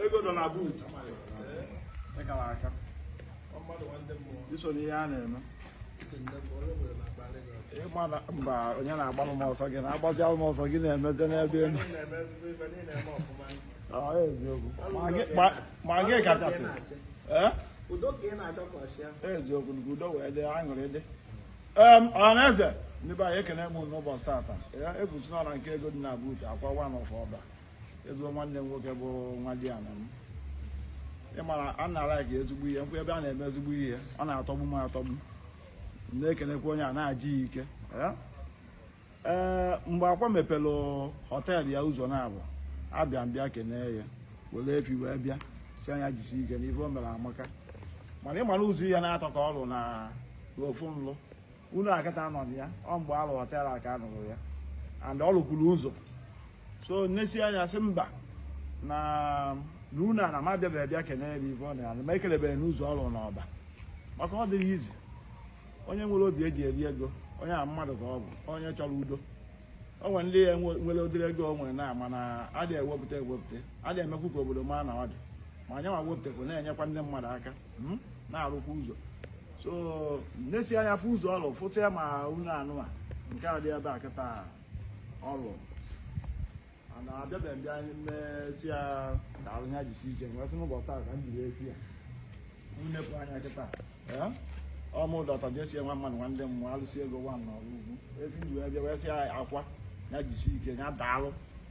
ego nọ na buutu ị kara aka iso n'ihe a na-eme ị ma na mba onye na-agbalụ m ọsọ gị na-agbazialụ m ọsọ gị na-emezi n'ebe elu Ọ, eziokwu Ma gị- ma- ma gị kachasị ee udo ka ị na-achọ ka ọ chịa eziokwu nke udo wee dị aṅụrị dị em ọhaneze ndị be anyị ekene m n'ụbọchị tata ya ebusi n'ọra nke ego dị na buutu Akwa one of Ọba ezigbo nwanne m nwoke bụ nwadiana m ị mara a na-alaiki ezigbo ihe m fụ ebe a na-eme ezigbo ihe ọ na-atọgbu m atọgbu na-ekenekwa onye a nya jisi ike ee mgbe Akwa mepere họteelụ ya ụzọ na-abụ abịa m bịa kenee ya were efi wee bịa sị ya nya jisi ike n'ife o mere amaka mana ị mara ụzọ ya na họtel ka ọ lụ na ofu nlụ unu a kịta nọ ya ọ mgbe a lụ họtel a ka a lụrụ ya and ọ lụkwuru ụzọ so m nesie anya sị mba na na unu ana m abịabeghị bịa kenere m ibe ọ na ya ma ekelebeghị n'ụzọ ọ rụ n'Ọba maka ọ dịghị easy onye nwere obi eji eri ego onye a mmadụ ka ọ bụ onye chọrọ udo o nwere ndị ya nwere ụdịrị ego o nwere na mana adịghị ewepụta ewepụta adịghị emekwu ka obodo maa na ọ dị mma nya nwa wepụtakwu na-enyekwa ndị mmadụ aka hmm? na-arụkwa ụzọ so m nesie anya fụ ụzọ ọ lụfụta ya ma unu anụ a nke a dị ebe a kịta ọ lụ na abịabeghị m bịa m sị ya daalụ ya jisi ike m wee sị n'ụbọchị taa ka m jiri efi ya m nepụ anya kịta ee ọ mụ doctor JC nwa mmadụ nwa ndị mmụọ alụsị ego nwa n'ọrụ ugwu efi ji wee bịa wee sị ya Akwa ya jisi ike ya daalụ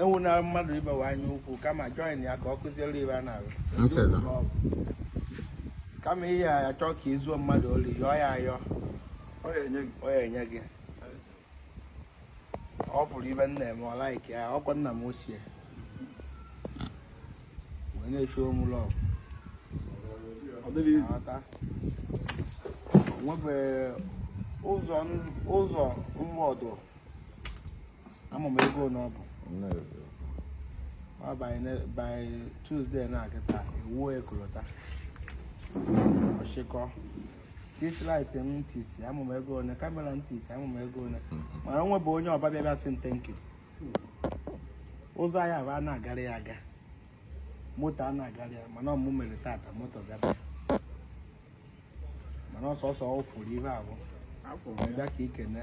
enwenara mmadụ ibe gị anya ukwu kama join ya ka ọ kụziere ibe a na-arụ kama ị ya-achọ ka i zuo mmadụ ori yọọ ya ayọ ọ ya-enye gị ọ bụrụ ihe m na-eme ọ laiki ya ọkwa nna m ochie wee na-echu ụmụ lọv o nwebeghị ụzọ ụzọ mgbọdụ ama m ego na ọ bụ by Tuesday na-akịta ewuo ekolota ọchịkọ street light m tisi ama m ego one kamera m tisi ama m ego one mana o nwebe onye Ọba bịa sị m thank you ụzọ nya bụ a na-agara ya aga moto a na-agara ya mana ọ mụ mere tata moto zaba mana ọ sọsọ ọ fụrụ ibe abụ bịa ka ikene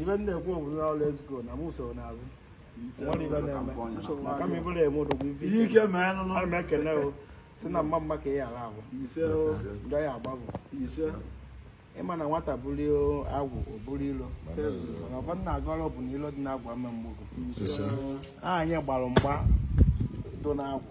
ibe ndị ekwu obodo na let's go na mụ soro n'azụ ihe ike mee nụnụ ana m ekene o si na mma mma ka ị ghara abụ njọ ya agbabụ ịma na nwata buru agwụ o buru ilo mana ọkwa nna agọrọ bụ na ilo dị na agwụ mme mgbogo anyị gbara mgba dị na agwụ